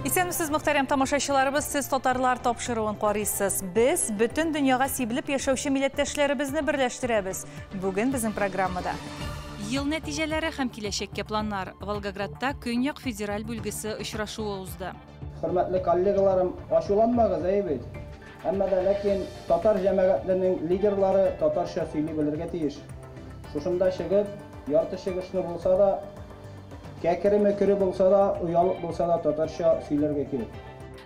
Исәнмесез, мөхтәрәм тамашачыларыбыз, сез татарлар тапшыруын карыйсыз. Без бөтен дөньяга сибелеп яшәүче милләттәшләребезне берләштерәбез. Бүген безнең программада Ел нәтиҗәләре һәм киләчәккә планнар. Волгоградта Көньяк федераль бүлгесе очрашуы узды. Хөрмәтле коллегаларым, ачуланмагыз, әйе бит? Әмма дә ләкин татар җәмәгатьленең лидерлары татарча сөйли белергә тиеш. Шушында чыгып, ярты чыгышны булса да, кәкере-мөкере булса да, оялып булса да татарча сөйләргә кирәк.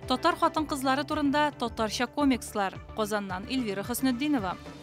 Татар хатын-кызлары турында татарча комикслар. Казаннан Эльвира Хөснетдинова.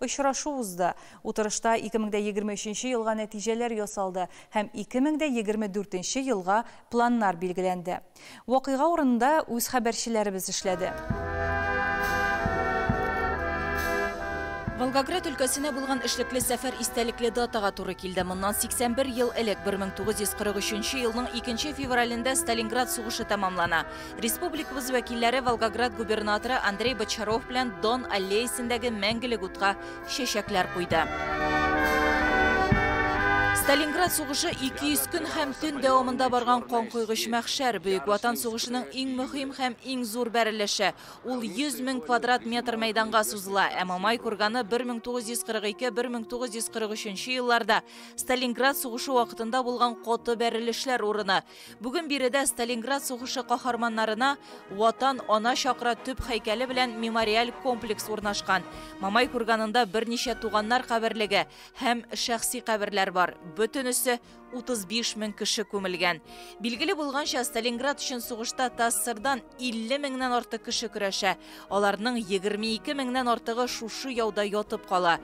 Очрашу узды. Утырышта 2023 елга нәтиҗәләр ясалды һәм 2024 нче елга планнар билгеләнде. Вакыйга урынында үз хәбәрчеләребез эшләде. Волгоград өлкәсенә булган эшлекле сәфәр истәлекле датага туры килде. Моннан 81 ел элек, 1943 елның 2 февралендә Сталинград сугышы тәмамлана. Республикабыз вәкилләре Волгоград губернаторы Андрей Бочаров белән Дон аллеясендәге мәңгелек утка чәчәкләр куйды. Сталинград сугышы 200 көн һәм төн дәвамында барган канкойгыч мәхшәр, Бөек Ватан сугышының иң мөһим һәм иң зур бәрелеше. Ул 100 мең квадрат метр мәйданга сузыла, ә Мамай курганы 1942-1943 елларда Сталинград сугышы вакытында булган каты бәрелешләр урыны. Бүген биредә Сталинград сугышы каһарманнарына Ватан ана чакра төп һәйкәле белән мемориаль комплекс урнашкан. Мамай курганында берничә туганнар каберлеге һәм шәхси каберләр бар. Бөтенесе 35 мең кеше күмелгән. Билгеле булганча, Сталинград өчен сугышта ТАССРдан 50 меңнән артык кеше көрәшә. Аларның 22 меңнән артыгы шушы яуда ятып кала.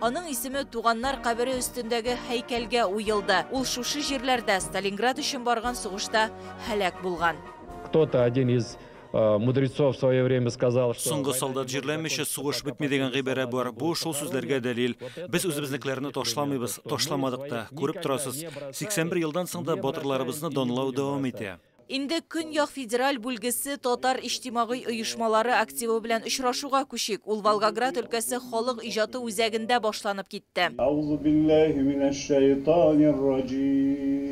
Аның исеме туганнар кабере өстендәге һәйкәлгә уелды. Ул шушы җирләрдә, Сталинград өчен барган сугышта һәлак булган. Кто-то, один из мудрецов в свое время сказал, что. Соңгы солдат җирләмичә сугыш бетми дигән гыйбарә бар. Бу шул сүзләргә дәлил. Без үзебезнекеләрне ташламыйбыз, ташламадык та. Күреп торасыз, 81 елдан соң да батырларыбызны данлау дәвам итә. Инде Көньяк федераль бүлгесе татар иҗтимагый оешмалары активы белән очрашуга күчик. Ул Волгоград өлкәсе халык иҗаты үзәгендә башланып китте. Әузубилләһи минәшшәйтанирраҗиим.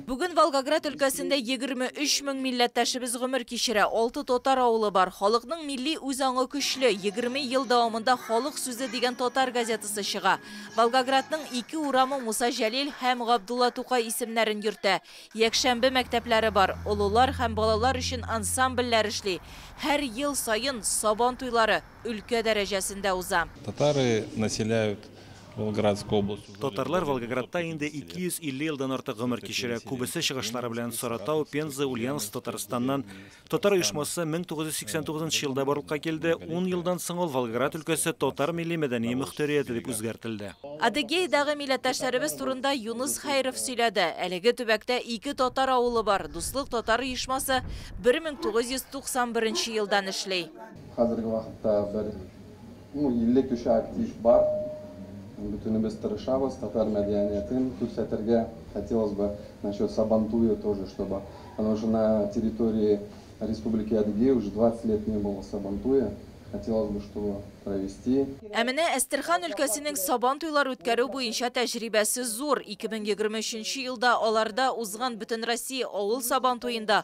Бүген Волгоград өлкәсендә егерме өч мең милләттәшебез гомер кичерә, алты татар авылы бар. Халыкның милли үз аңы көчле, егерме ел дәвамында Халык сүзе дигән татар газетасы чыга. Волгоградның ике урамы Муса Җәлил һәм Габдулла Тукай исемнәрен йөртә. Якшәмбе мәктәпләре бар, олылар һәм балалар өчен ансамбльләр эшли. Һәр ел саен Сабан туйлары өлкә дәрәҗәсендә уза. Татары населяют Волгоградскую область уже более 250 лет. Татарлар Волгоградта инде 250 елдан артык гомер кичерә. Күбесе чыгышлары белән Саратау, Пенза, Ульяновск, Татарстаннан. Татар оешмасы 1989 елда барлыкка килде, 10 елдан соң ул Волгоград өлкәсе татар милли-мәдәни мөхтәрияте дип үзгәртелде. Адыгеядагы милләттәшләребез турында Юныс Хәйров сөйләде. Әлеге төбәктә ике татар авылы бар, Дуслык татар оешмасы 1991 елдан эшли. Хәзерге вакытта бер Ну 50 кеше актив бар. Бөтенебез тырышабыз, татар мәдәниятен күрсәтергә. Хотелось бы насчет Сабантуя тоже чтобы, потому что на территории Республики Адыгея уже 20 лет не было Сабантуя, хотелось бы чтобы провести. Ә менә Әстерхан өлкәсенең Сабан туйлар үткәрү буенча тәҗрибәсе зур, 2023 нче елда аларда узган Бөтенроссия авыл Сабантуенда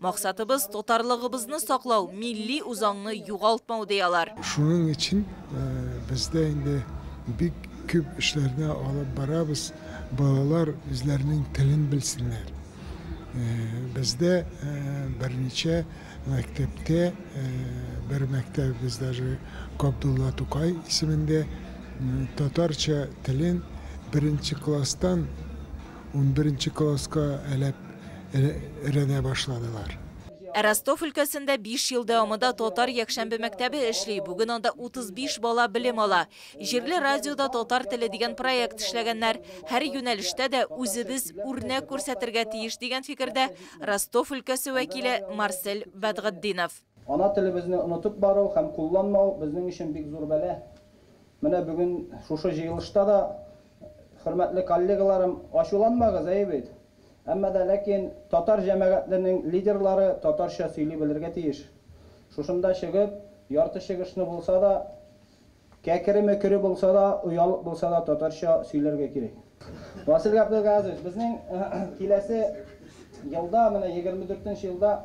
Максатыбыз, татарлыгыбызны саклау, милли үзаңны югалтмау, ди алар. Шуның өчен бездә инде бик күп эшләрне алып барабыз, балалар үзләренең телен белсеннәр. Бездә берничә мәктәптә, бер мәктәбебез даже Габдулла Тукай исемендә татарча телен беренче класстан Унберенче класска әләп рәнә башладылар. Ә Ростов өлкәсендә биш ел дәвамында татар якшәмбе мәктәбе эшли, бүген анда 35 бала белем ала. Җирле радиода татар теле дигән проект эшләгәннәр. Һәр юнәлештә дә үзебез үрнәк күрсәтергә тиеш, дигән фикердә Ростов өлкәсе вәкиле Марсель Бәдгатдинов. Ана телебезне онытып бару һәм кулланмау безнең өчен бик зур бәла. Менә бүген шушы җыелышта да Хөрмәтле коллегаларым, ачуланмагыз, әйе бит? Әмма дә ләкин татар җәмәгатьленең лидерлары татарча сөйли белергә тиеш. Шушында чыгып, ярты чыгышны булса да, кәкере-мөкере булса да, оялып булса да татарча сөйләргә кирәк. Васил Габделгазович, безнең киләсе елда, менә егерме дүртенче елда,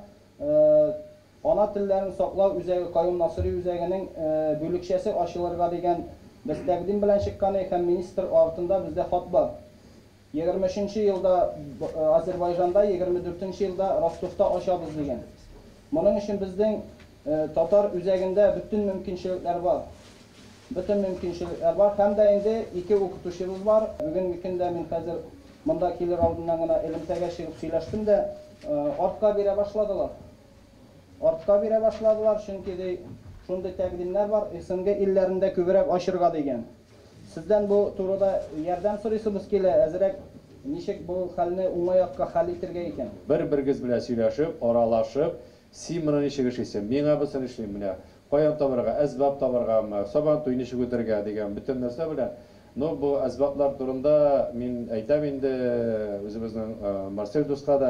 Ана телләрен саклау үзәге Каюм Насыйри үзәгенең бүлекчәсе ачылырга дигән без тәкъдим белән чыкканы һәм министр артында бездә хат бар. Егерме өченче елда Азербайжанда, егерме дүртенче елда Ростовта ачабыз дигән. Моның өчен безнең татар үзәгендә бөтен мөмкинчелекләр бар. Бөтен мөмкинчелекләр бар һәм дә инде ике укытучыбыз бар. Бүгенге көндә мин хәзер монда килер алдыннан гына элемтәгә чыгып сөйләштем дә, артка бирә башладылар. Артка бирә башладылар, чөнки, ди, шундый тәкъдимнәр бар, СНГ илләрендә күбрәк ачырга дигән. Сездән бу турыда ярдәм сорыйсыбыз килә, әзрәк ничек бу хәлне уңай якка хәл итергә икән? Бер-берегез белән сөйләшеп, аралашып, син моны ничек эшлисең, мин аңа бысын эшлим, менә каян табарга, әсбап табаргамы, сабантуй ничек үтәргә дигән бөтен нәрсә белән. Ну, бу әсбаплар турында мин әйтәм инде үзебезнең Марсель дуска да.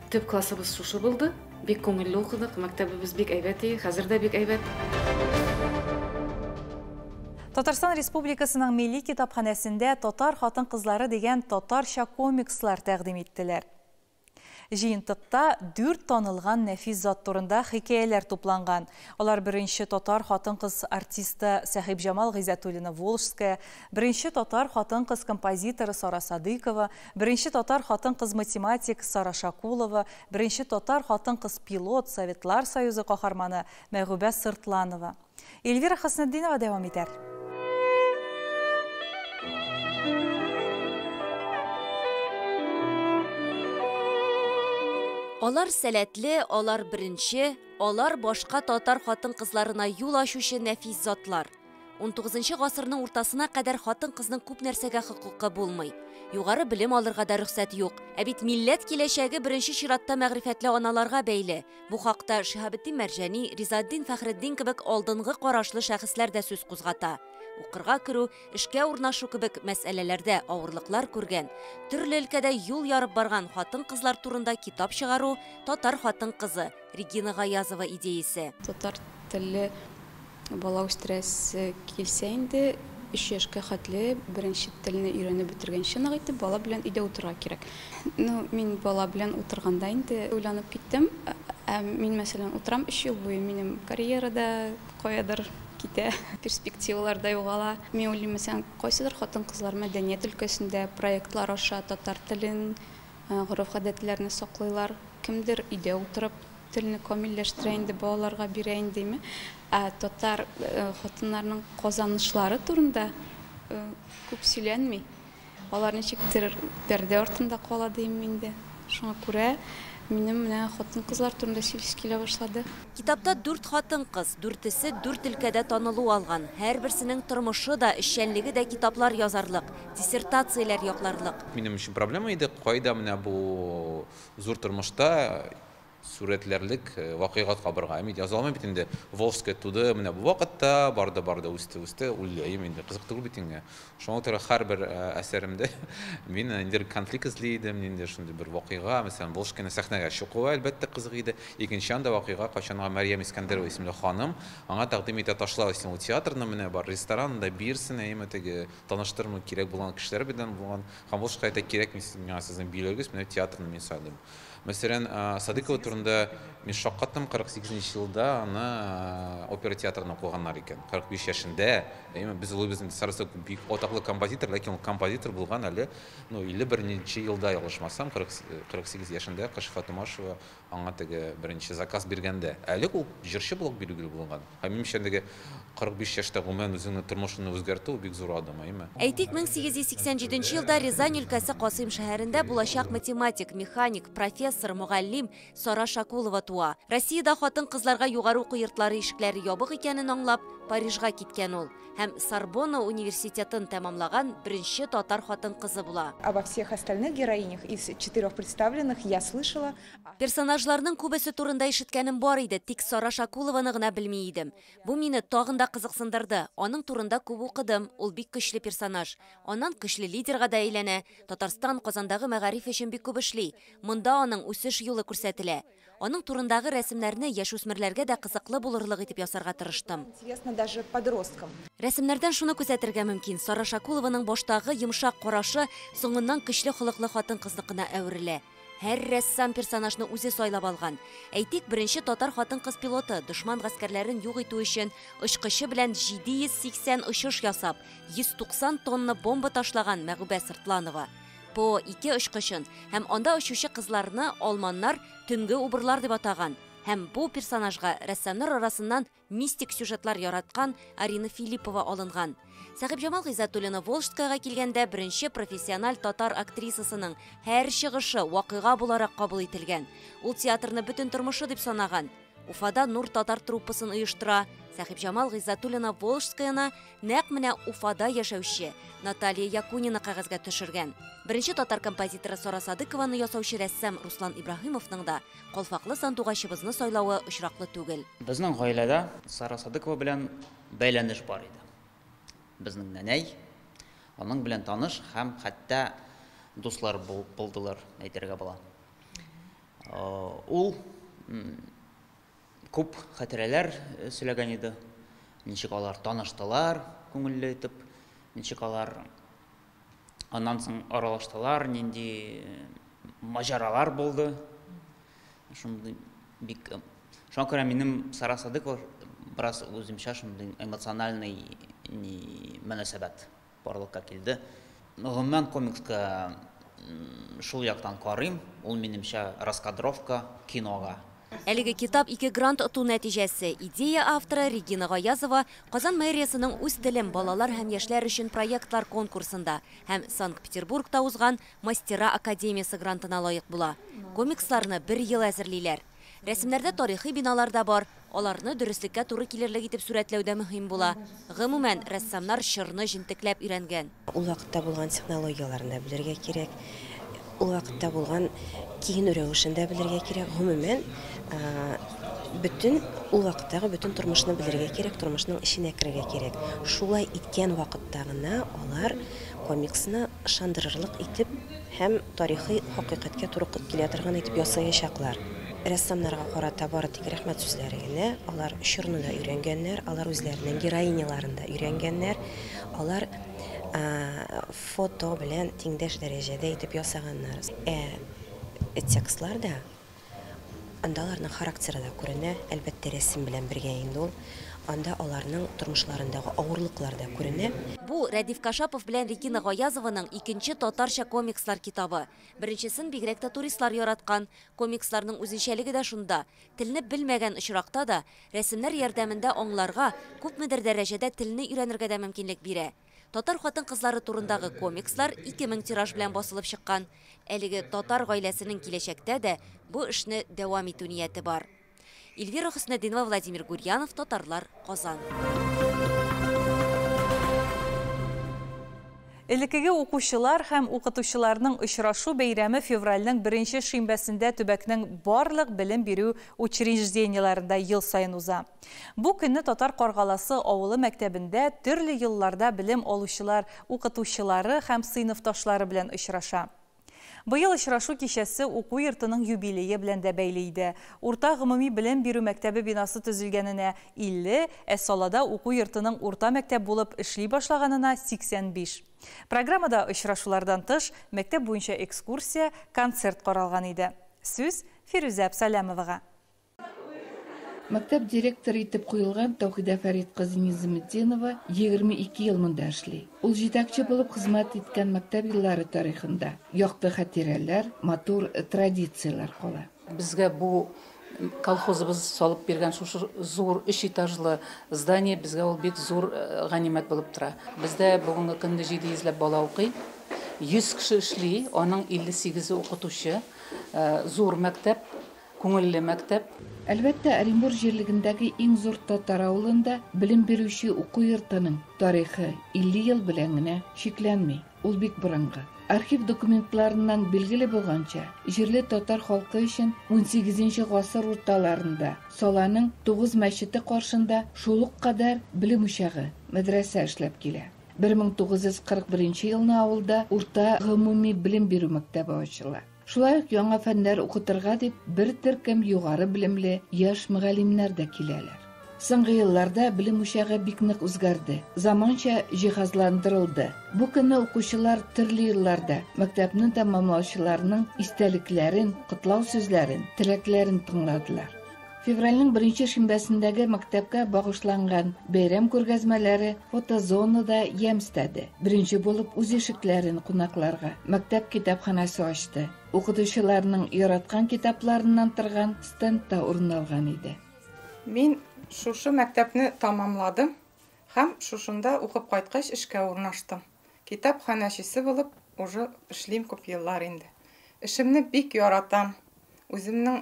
Төп классыбыз шушы булды. Бик күңелле укыдык, мәктәбебез бик әйбәт и, хәзер дә бик әйбәт. Татарстан Республикасының Милли китапханәсендә Татар хатын-кызлары дигән татарча комикслар тәкъдим иттеләр. Җыентыкта дүрт танылган нәфис зат турында хикәяләр тупланган. Алар беренче татар хатын-кыз артисты Сәхибҗамал Гыйззәтуллина Волжская, беренче татар хатын-кыз композиторы Сара Садыйкова, Беренче татар хатын-кыз математик Сара Шакулова, беренче татар хатын-кыз пилот, Советлар Союзы каһарманы Мәгүбә Сыртланова. Эльвира Хөснетдинова дәвам итәр. Алар сәләтле, алар беренче, алар башка татар хатын-кызларына юл ачучы нәфис затлар. 19 гасырның уртасына кадәр хатын-кызның күп нәрсәгә хокукы булмый. Югары белем алырга да рөхсәт юк. Ә бит милләт киләчәге беренче чиратта мәгърифәтле аналарга бәйле. Бу хакта Шиһабетдин Мәрҗани, Ризаддин Фәхреддин кебек алдынгы карашлы шәхесләр дә сүз кузгата. Укырга керү, эшкә урнашу кебек мәсьәләләрдә авырлыклар күргән, төрле өлкәдә юл ярып барган хатын-кызлар турында китап чыгару Татар хатын-кызы, Регина Гаязова идеясе. Татар телле бала үстерәсе килсә инде, өч яшькә хәтле беренче телне өйрәнеп бетергәнче нык итеп бала белән өйдә утырырга кирәк. Ну, мин бала белән утырганда инде уйланып киттем. Ә мин, мәсәлән, утырам өч ел буе, минем карьера да каядыр китә, перспективалар да югала. Мин уйлыйм, мәсәлән, кайсыдыр хатын-кызлар мәдәният өлкәсендә проектлар аша татар телен Гореф-гадәтләрне саклыйлар. Кемдер өйдә утырып телне камилләштерә инде, балаларга бирә индеме. Ә татар хатыннарының казанышлары турында күп сөйләнми. Алар ничектер пәрдә артында кала диимме инде. Шуңа күрә минем менә хатын-кызлар турында сөйлисе килә башлады. Китапта дүрт хатын-кыз, дүртесе дүрт өлкәдә танылу алган, һәрберсенең тормышы да, эшчәнлеге дә китаплар язарлык. Диссертацияләр якларлык. Минем өчен проблема иде, кайда менә бу зур тормышта сурәтләрлек вакыйгат кабырга. Мин яза алмыйм бит инде. Волжская туды менә бу вакытта, барды, барды, үсте, үсте, үләем инде, кызык түгел бит инде. Шуңа күрә һәрбер әсәремдә мин ниндидер конфликт эзли идем, ниндидер шундый бер вакыйга, мәсәлән, Волжскаяны сәхнәгә чукуы, әлбәттә, кызык иде. Икенче анда вакыйга, кайчанга Мәрьям Искәндәрова исемле ханым, аңа тәкъдим итә, ташла син ул театрны, менә бар, ресторан да бирсен, әйеме, теге Таныштырырмын кирәк булган кешеләр белән булган. Һәм ул шикаятьтә кирәкми сез миңа сезнең биюләрегез, менә театрны мин сайладым. Мәсәлән, Садыкова турында мин шаккаттым, 48 нче елда аны опера театрында укыганнар икән. 45 яшендә, әйеме, без уйлыйбыз инде Сарасов бик атаклы композитор, ләкин ул композитор булган әле, ну, 51 нче елда, ялгышмасам, 40, 48 яшендә Кашифа Томашева Аңа теге беренче заказ биргәндә, әле ул җырчы булып билгеле булган. Һәм, минемчә, әлеге 45 яшьтә гомумән үзеңнең тормышыңны үзгәртү, бик зур адым, әйеме? Әйтик, 1887 елда Рязань өлкәсе Касыйм шәһәрендә булачак математик, механик, профессор, мөгаллим Сара Шакулова туа. Россиядә хатын-кызларга югары уку йортлары ишекләре ябык икәнен аңлап, Парижга киткән ул. һәм Сорбонна университетын тәмамлаган беренче татар хатын-кызы була. Обо всех остальных героинях из четырех представленных я слышала. Персонажларның күбесе турында ишеткәнем бар иде, тик Сара Шакулованы гына белми идем. Бу мине тагын да кызыксындырды. Аның турында күп укыдым, ул бик көчле персонаж. Аннан көчле лидерга да әйләнә. Татарстан Казандагы мәгариф өчен бик күп эшли. Монда аның үсеш юлы күрсәтелә. Аның турындагы рәсемнәрне яшүсмерләргә дә кызыклы булырлык итеп ясарга тырыштым. Рәсемнәрдән шуны күзәтергә мөмкин, Сара Шакулованың баштагы йомшак карашы соңыннан көчле холыклы хатын-кызныкына әверелә. Һәр рәссам персонажны үзе сайлап алган. Әйтик, беренче татар хатын-кыз пилоты, дошман гаскәрләрен юк итү өчен очкычы белән 780 очыш ясап, 190 тонна бомба ташлаган Мәгүбә Сыртланова. ПО-2 очкычын һәм анда очучы кызларны алманнар төнге убырлар дип атаган һәм бу персонажга рәссамнар арасыннан мистик сюжетлар яраткан Арина Филиппова алынган. Сәхибҗамал Гыйззәтуллина Волжскаяга килгәндә беренче профессиональ татар актрисасының һәр чыгышы вакыйга буларак кабул ителгән. Ул театрны бөтен тормышы дип санаган. Уфада Нур татар труппасын оештыра. Сәхибҗамал Гыйззатуллина Волжскаяны нәкъ менә Уфада яшәүче Наталья Якунина кәгазьгә төшергән. Беренче татар композиторы Сара Садыкованы ясаучы рәссам Руслан Ибраһимовның да калфаклы сандугачыбызны сайлавы очраклы түгел. Безнең гаиләдә Сара Садыкова белән бәйләнеш бар иде. Безнең нәнәй аның белән таныш һәм хәтта дуслар булдылар, әйтергә була. Ул күп хәтирәләр сөйләгән иде. Ничек алар таныштылар, күңелле итеп, ничек алар аннан соң аралаштылар, нинди маҗаралар булды. Шундый бик Шуңа күрә минем Сара Садыкова бераз үземчә шундый эмоциональный мөнәсәбәт. Барлыкка килде. Гомумән, комикска шул яктан карыйм, ул, минемчә, раскадровка кинога. Әлеге китап ике грант оту нәтиҗәсе. Идея авторы, Регина Гаязова, Казан мэриясенең Үз телем, балалар һәм яшьләр өчен проектлар конкурсында һәм Санкт-Петербургта узган Мастера академиясе грантына лаек була. Комиксларны бер ел әзерлиләр. Рәсемнәрдә тарихи биналар да бар. Аларны дөреслеккә туры килерлек итеп сурәтләү дә мөһим була. Гомумән, рәссамнар чорны җентекләп өйрәнгән. Ул вакытта булган технологияләрне дә белергә кирәк, ул вакытта булган киенү рәвешен дә белергә кирәк. Гомумән, бөтен ул вакыттагы бөтен тормышны белергә кирәк, тормышның эченә керергә кирәк. Шулай иткән вакытта гына алар комиксны ышандырырлык итеп һәм тарихи хакыйкатькә туры килә торган итеп ясаячаклар. Рәссамнарга карата бары тик рәхмәт сүзләре генә. Алар чорны да өйрәнгәннәр, алар үзләренең героиняларын да өйрәнгәннәр. Алар фото белән тиңдәш дәрәҗәдә итеп ясаганнар. Ә текстлар да, анда аларның характеры да күренә, әлбәттә, рәсем белән бергә инде ул. Анда аларның тормышларындагы авырлыклар да күренә. Бу, Рәдиф Кашапов белән Регина Гаязованың икенче татарча комикслар китабы. Беренчесен бигрәк тә туристлар яраткан. Комиксларның үзенчәлеге дә шунда, телне белмәгән очракта да, рәсемнәр ярдәмендә аңларга, күпмедер дәрәҗәдә телне өйрәнергә дә мөмкинлек бирә. Татар хатын-кызлары турындагы комикслар 2000 тираж белән басылып чыккан. Әлеге татар гаиләсенең киләчәктә дә бу эшне дәвам итү нияте бар. Эльвира Хөснетдинова, Владимир Гурьянов, Татарлар, Казан. Элекеге укучылар һәм укытучыларның очрашу бәйрәме февральнең беренче шимбәсендә төбәкнең барлык белем бирү учреждениеләрендә ел саен уза. Бу көнне Татар Каргаласы авылы мәктәбендә төрле елларда белем алучылар, укытучылары һәм сыйныфташлары белән очраша. Быел очрашу кичәсе уку йортының юбилее белән дә бәйле иде. Урта гомуми белем бирү мәктәбе бинасы төзелгәненә, 50, ә Салада уку йортының урта мәктәп булып эшли башлаганына, 85. Программада очрашулардан тыш, мәктәп буенча экскурсия, концерт каралган иде. Сүз Фирүзә Абсаләмовага. Мәктәп директоры итеп куелган Тәүхидә Фәрит кызы Низаметдинова 22 ел монда эшли. Ул җитәкче булып хезмәт иткән мәктәп еллары тарихында якты хатирәләр, матур традицияләр кала. Безгә бу колхозыбыз салып биргән шушы зур өч этажлы здание, безгә ул бик зур ганимәт булып тора. Бездә бүгенге көнне 700 ләп бала укый. 100 кеше эшли, аның 58-е укытучы. Зур мәктәп, Күңелле мәктәп. Әлбәттә, Оренбур җирлегендәге иң зур татар авылында белем бирүче уку йортының тарихы 50 ел белән генә чикләнми, ул бик борынгы. Архив документларыннан билгеле булганча, җирле татар халкы өчен унсигезенче гасыр урталарында Саланың тугыз мәчете каршында шул ук кадәр белем учагы, мәдрәсә эшләп килә. Бер мең тугыз йөз кырык беренче елны авылда урта гомуми белем бирү мәктәбе ачыла. Шулай ук яңа фәннәр укытырга дип бер төркем югары белемле яшь мөгаллимнәр дә киләләр. Соңгы елларда белем учагы бик нык үзгәрде, заманча җиһазландырылды. Бу көнне укучылар төрле елларда мәктәпне тәмамлаучыларның истәлекләрен, котлау сүзләрен, теләкләрен тыңладылар. Февральнең беренче шимбәсендәге мәктәпкә багышланган бәйрәм күргәзмәләре фотозонада ямь өстәде. Беренче булып үз ишекләрен кунакларга мәктәп китапханәсе ачты. Укытучыларның яраткан китапларыннан торган стенд та урын алган иде. Мин шушы мәктәпне тәмамладым һәм шушында укып кайткач эшкә урнаштым. Китапханәчесе булып уже эшлим күп еллар инде. Эшемне бик яратам. Үземнең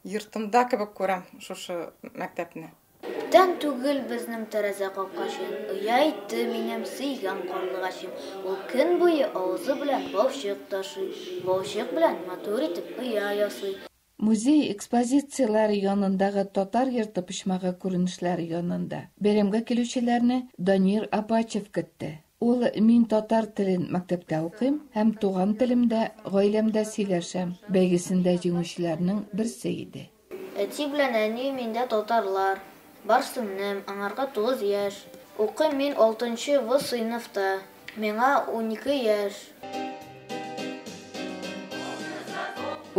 йортымда кебек күрәм шушы мәктәпне. Күптән түгел безнең тәрәзә капкачын оя итте минем сөйгән карлыгачым. Ул көн буе авызы белән балчык ташый, балчык белән матур итеп оя ясый. Музей экспозицияләре янындагы Татар йорты почмагы күренешләре янында бәйрәмгә килүчеләрне Данир Апачев көтте. Ул Мин татар телен мәктәптә укыйм һәм туган телемдә, гаиләмдә сөйләшәм бәйгесендә җиңүчеләрнең берсе иде. Әти белән әни миндә татарлар. Барсыннем, аңарга тугыз яшь. Укыйм мин алтынчы В сыйныфта. Миңа унике яшь.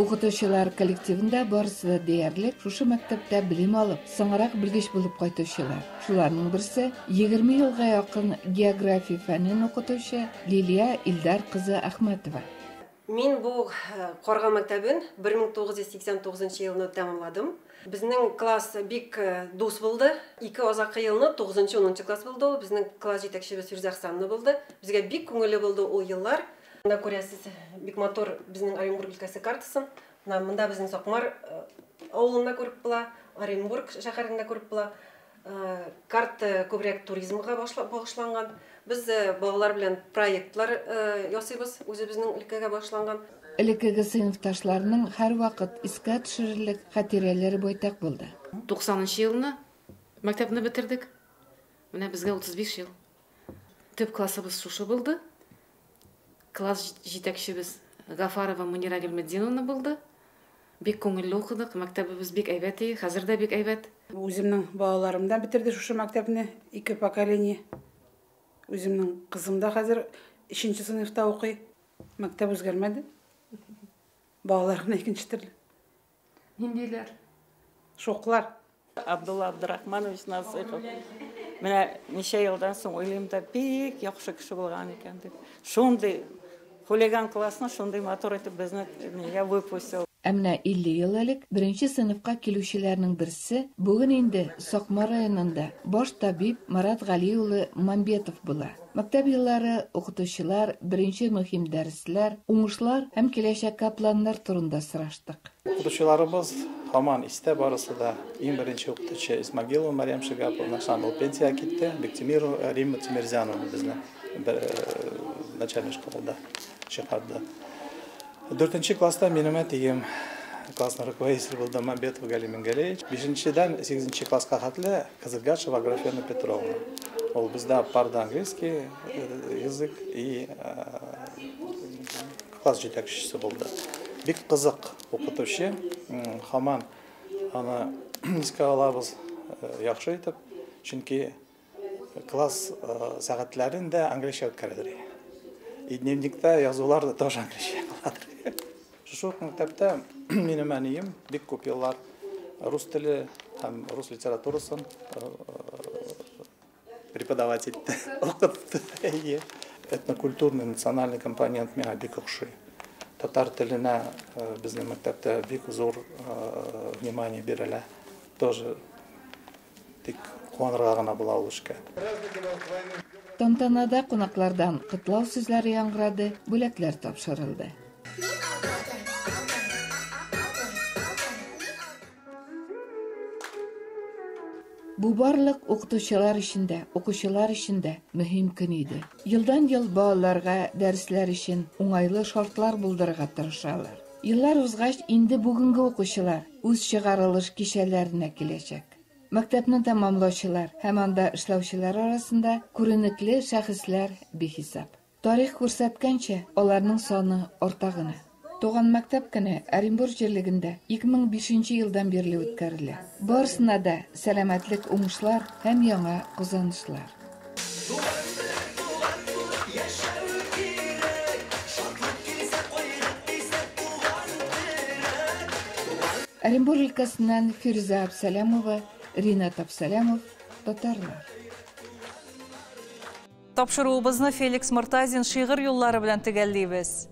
Укытучылар коллективында барысы да диярлек шушы мәктәптә белем алып, соңрак белгеч булып кайтучылар. Шуларның берсе 20 елга якын география фәнен укытучы Лилия Илдар кызы Ахмәтова. Мин бу Карга мәктәбен 1989 елны тәмамладым. Безнең класс бик дус булды. Ике азаккы елны тугызынчы, унынчы класс булды ул. Безнең класс җитәкчебез Фирүзә Хсанна булды. Безгә бик күңелле булды ул еллар. Менә күрәсез, бик матур безнең Оренбург өлкәсе картасын. Менә монда безнең Сакмар авылын да күреп була, Оренбург шәһәрен дә күреп була. Карт күбрәк туризмга багышланган. Без балалар белән проектлар ясыйбыз, үзебезнең өлкәгә багышланган. Элеккеге сыйныфташларның һәрвакыт искә төшерерлек хатирәләре байтак булды. 90 нчы елны мәктәпне бетердек. Менә безгә 35 ел. Төп классыбыз шушы булды. Класс җитәкчебез Гафарова Мөнирә Гыйльметдиновна булды. Бик күңелле укыдык, мәктәбебез бик әйбәт и, хәзер дә бик әйбәт. Үземнең балаларым да бетерде шушы мәктәпне, ике поколение. Үземнең кызым да хәзер өченче сыйныфта укый. Мәктәп үзгәрмәде. Балалар гына икенче төрле. Ниндиләр? Шуклар. Абдулла Абдурахманович Насыйхов. Менә ничә елдан соң уйлыйм да, бик яхшы кеше булган икән дип. Шундый хулиган классны шундый матур итеп безне нигә выпустил. Ә менә 50 ел элек беренче сыйныфка килүчеләрнең берсе, бүген инде Сакмар районында баш табиб Марат Гали улы Мамбетов була. Мәктәп еллары, укытучылар, беренче мөһим дәресләр, уңышлар һәм киләчәккә планнар турында сораштык. Укытучыларыбыз һаман истә барысы да. Иң беренче укытучы Исмагилова Марьям Шигаповна, соң ул пенсиягә китте, Биктимирова Римма Тимерзяновна безне начальный школада чыгарды. Дүртенче класста минем әтием классный руководитель булды Мамбетов Гали Мингалей. Бишенчедән сигезенче класска хәтле Кызылгашева Аграфена Петровна. Ул бездә парда английский э, язык и э, класс җитәкчесе булды. Бик кызык укытучы, хаман аны искә алабыз э, яхшы итеп, чөнки Класс сәгатьләрен дә английча үткәрәдер. И дневникта язулар да тоже английча каладыр. Шушы ук мәктәптә минем әнием бик күп еллар рус теле һәм рус литературасын преподавать итте, укытты. Әйе. Этнокультурный, национальный компонент миңа бик охшый. Татар теленә безнең мәктәптә бик зур внимание бирелә. Тоже Тик куанырга гына була ул эшкә. Тантанада кунаклардан котлау сүзләре яңгырады, бүләкләр тапшырылды. Бу барлык укытучылар өчен дә, укучылар өчен дә мөһим көн иде. Елдан-ел балаларга дәресләр өчен уңайлы шартлар булдырырга тырышалар. Еллар узгач, инде бүгенге укучылар үз чыгарылыш кичәләренә киләчәк. Мәктәпне тәмамлаучылар һәм анда эшләүчеләр арасында күренекле шәхесләр бихисап. Тарих күрсәткәнчә, аларның саны арта гына. Туган мәктәп көне Оренбур җирлегендә 2005 нче елдан бирле үткәрелә. Барысына да сәламәтлек, уңышлар һәм яңа казанышлар! Оренбур өлкәсеннән Фирүзә Абсәләмова, Ринат Абсәләмов, татарлар. Тапшыруыбызны Феликс Мортазин шигырь юллары белән төгәллибез.